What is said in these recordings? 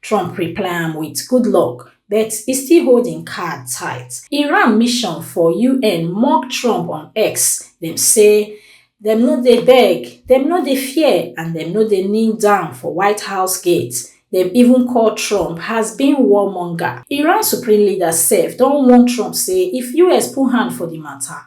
Trump reply am wit good luck, but e still hold im card tight. Iran mission for UN mock Trump on X, dem say dem no dey beg, dem no dey fear and dem no dey kneel down for White House gate. Dem even call Trump has been warmonger. Iran supreme leader sef don warn Trump say if US put hand for di mata,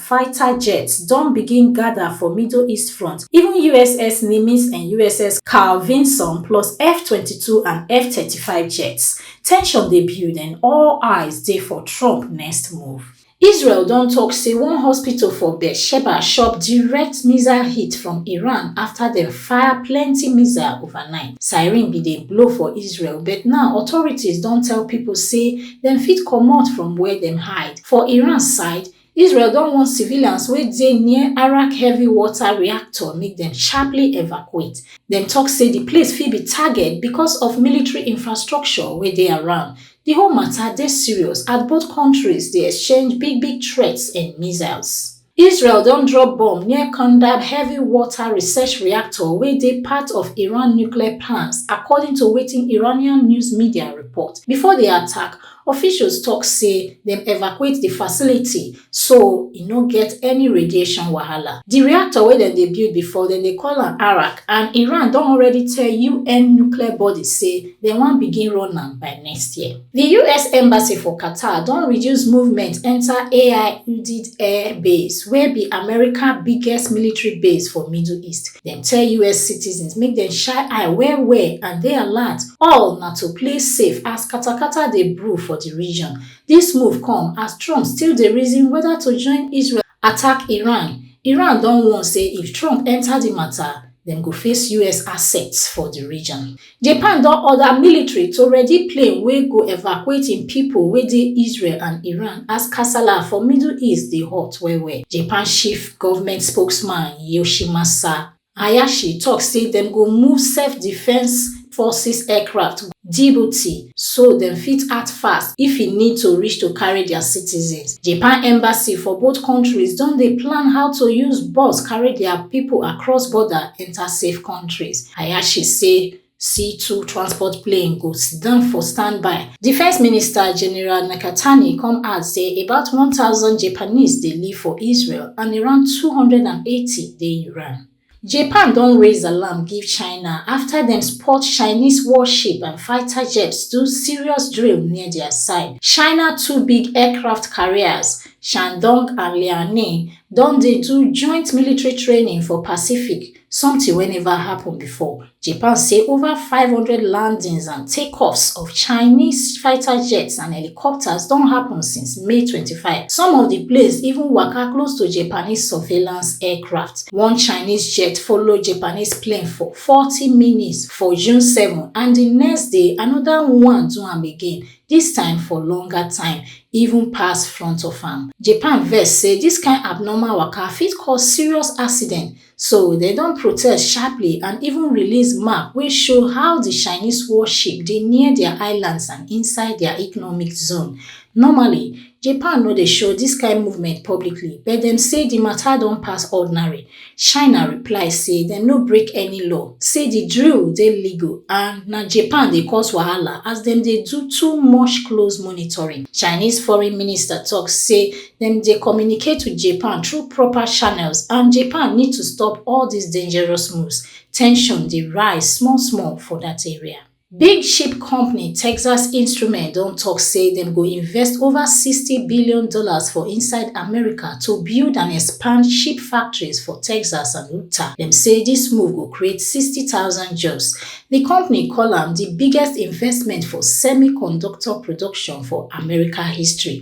fighter jets don begin gada for middle east front, even uss Nimitz and uss Carl Vinson plus F twenty two and F thirty five jets. Tension dey build and all eyes dey for Trump next move. Israel don tok say one hospital for Beersheba chop direct missile hit from Iran afta dem fire plenty missile overnight. Siren bin dey blow for Israel but now authorities don tell pipo say dem fit comot from where dem hide. For Iran side, Israel don warn civilians wey dey near Arak heavy water reactor make dem sharply evacuate. Dem talk say the place fit be target because of military infrastructure wey dey around. The whole matter dey serious as both countries dey exchange big big threats and missiles. Israel don drop bomb near Kandab heavy water research reactor wey dey part of Iran nuclear plans, according to wetin Iranian news media report. Before the attack, Officials tok say dem evacuate di facility so e no get any radiation wahala. Di reactor wey dem dey build bifor, dem dey call am Arak and Iran don already tell un nuclear body say dem wan begin run am by next year. Di us embassy for Qatar don reduce movement enta Al Udeid Air Base wey be America biggest military base for Middle East Dem tell us citizens make dem shine eye well well and dey alert, all na to play safe as katakata dey brew for di region. Dis move come as Trump still dey reason whether to join Israel attack Iran. Iran don warn say if Trump enter di matter, dem go face us assets for di region. Japan don order military to ready plane wey go evacuate im pipo wey dey Israel and Iran as kasala for Middle East dey hot well-well. Japan chief government spokesman Yoshimasa Hayashi tok say dem go move self-defence forces aircraft go Djibouti so dem fit act fast if e need to reach to carry dia citizens. Japan embassy for both kontris don dey plan how to use bus carry dia pipo across border enta safe kontris. Hayashi say C two transport plane go siddon for standby. Defence Minister General Nakatani come add say about one thousand Japanese dey live for Israel and around two hundred and eighty dey Iran. Japan don raise alarm give China after dem spot Chinese warship and fighter jets do serious drill near their side. China two big aircraft carriers, Shandong and Liaoning, don dey do joint military training for Pacific, something wey never happen before. Japan say over 500 landings and takeoffs of Chinese fighter jets and helicopters don happen since May 25. Some of di planes even waka close to Japanese surveillance aircraft. One Chinese jet follow Japanese plane for 40 minutes for June 7 and di next day anoda one do am again, dis time for longer time, even pass front of am. Japan vex say dis kain abnormal waka fit cause serious accident So dem don protest sharply and even release map wey show how di Chinese warship dey near dia islands and inside dia economic zone. Normally, Japan no dey show dis kain movement publicly, but dem say di mata don pass ordinary. China reply say dem no break any law, say di drill dey legal and na Japan dey cause wahala as dem dey do too much close monitoring. Chinese foreign minister tok say dem dey communicate wit japan through proper channels and japan need to stop all dis dangerous moves ten sion dey rise small small for dat area big ship company texas instruments don tok say dem go invest ova sixty billion dollars for inside america to build and expand ship factories for texas and utah dem say dis move go create sixty thousand jobs di company call am di biggest investment for semiconductor production for america history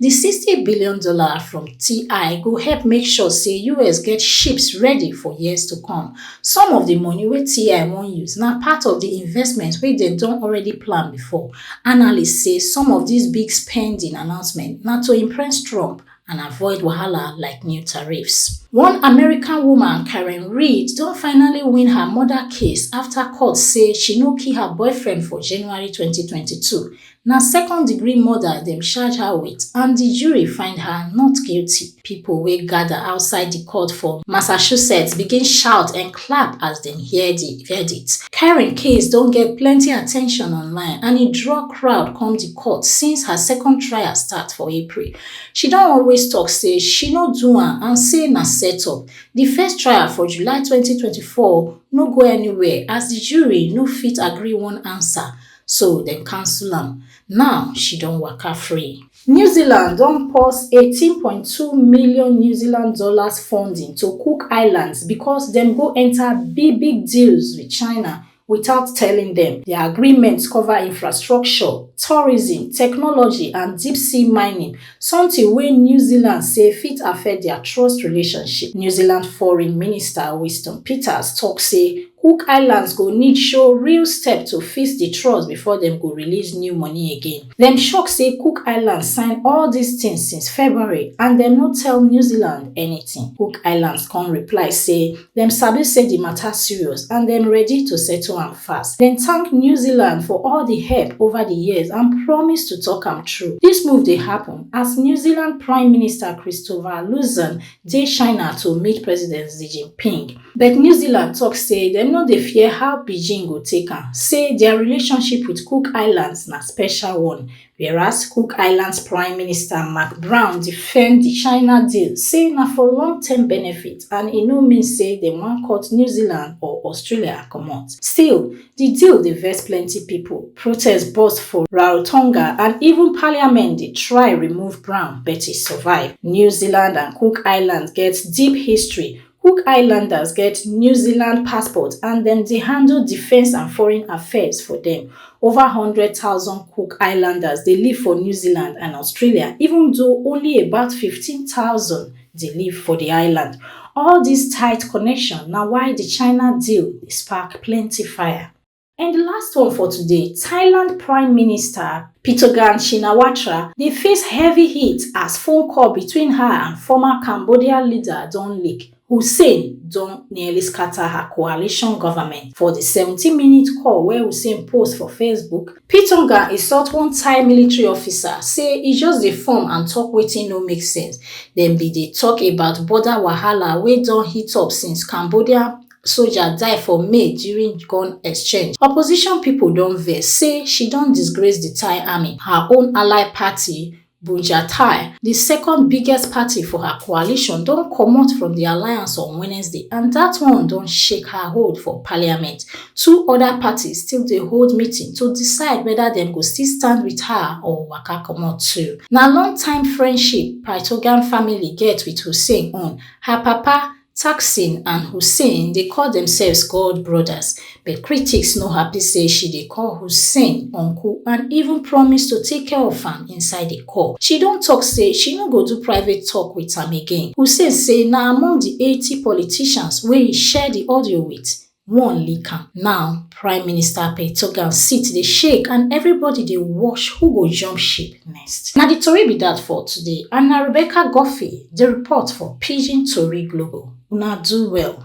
di $60 billion from TI go help make sure say US get ships ready for years to come. Some of di money wey TI wan use na part of di investment wey dem don already plan before. Analysts say some of dis big spending announcement na to impress Trump and avoid wahala like new tariffs. One American woman, Karen Reed, don finally win her murder case afta court say she no kill her boyfriend for January 2022. Na second degree murder dem charge her wit and di jury find her not guilty. Pipo wey gada outside di court for Massachusetts begin shout and clap as dem hear di verdict. Karen case don get plenty attention online and e draw crowd come di court since her second trial start for April. She don always tok say she no do am and say na set-up. Di first trial for July twenty twenty four no go anywhere as di jury no fit agree one ansa. so dem cancel am now she don waka free. New Zealand don pause eighteen point two million New Zealand dollars funding to Cook Islands because dem go enter big big deals with China without telling them. The agreement cover infrastructure, tourism, technology and deep sea mining sometin wey new zealand say fit affect dia trust relationship new zealand foreign minister winston peters tok say cook islands go need show real step to fix di trust before dem go release new money again dem shock say cook islands sign all dis tins since february and dem no tell new zealand anytin cook islands come reply say Dem sabi say di mata serious and dem ready to settle am fast. Dem thank New Zealand for all di help ova di years and promise to tok am through. Dis move dey happun as New Zealand Prime Minister Christopher Luxon dey China to meet President Xi Jinping. But New Zealand tok say dem no dey fear how Beijing go take am, say dia relationship wit Cook Islands na special one Whereas Cook Islands Prime Minister Mark Brown defend di China deal, say na for long term benefit and e no mean say dem wan cut New Zealand or Australia comot. Still, di deal dey vex plenty pipo, protest burst for Rarotonga and even parliament dey try remove Brown but e survive. New Zealand and Cook Islands get deep history Cook Islanders get New Zealand passport and dem dey handle defence and foreign affairs for dem. Over 100,000 Cook Islanders dey live for New Zealand and Australia even though only about 15,000 dey live for di island. All dis tight connection na why di China deal dey spark plenty fire. And di last one for today, Thailand Prime Minister Pitogan Shinawatra dey face heavy heat as phone call between her and former Cambodia leader don leak. Hussein don nearly scatter her coalition government. For di 17-minute call wey Hussein post for Facebook, Pitongan insult one Thai military officer say e just dey form and talk wetin no make sense. Dem bin dey talk about border wahala wey don heat up since Cambodia soja die for may during gun exchange opposition pipo don vex say she don disgrace di thai army her own ally party bunja thai di second biggest party for her coalition don comot from di alliance on wednesday and dat one don shake her hold for parliament two oda parties still dey hold meeting to decide whether dem go still stand wit her or waka comot too na long time friendship pytogan family get wit hussein on her papa Thaksin and Hussein dey call themselves God brothers, but critics no happy say she dey call Hussein uncle and even promise to take care of am inside a call. She don talk say she no go do private talk with am again. Hussein say na among di eighty politicians wey e share di audio with, one lick am now prime minister petogan sit dey shake and everybody dey watch who go jump ship next na di tori be dat for today and na rebecca guffey dey report for pidgin tori global una do well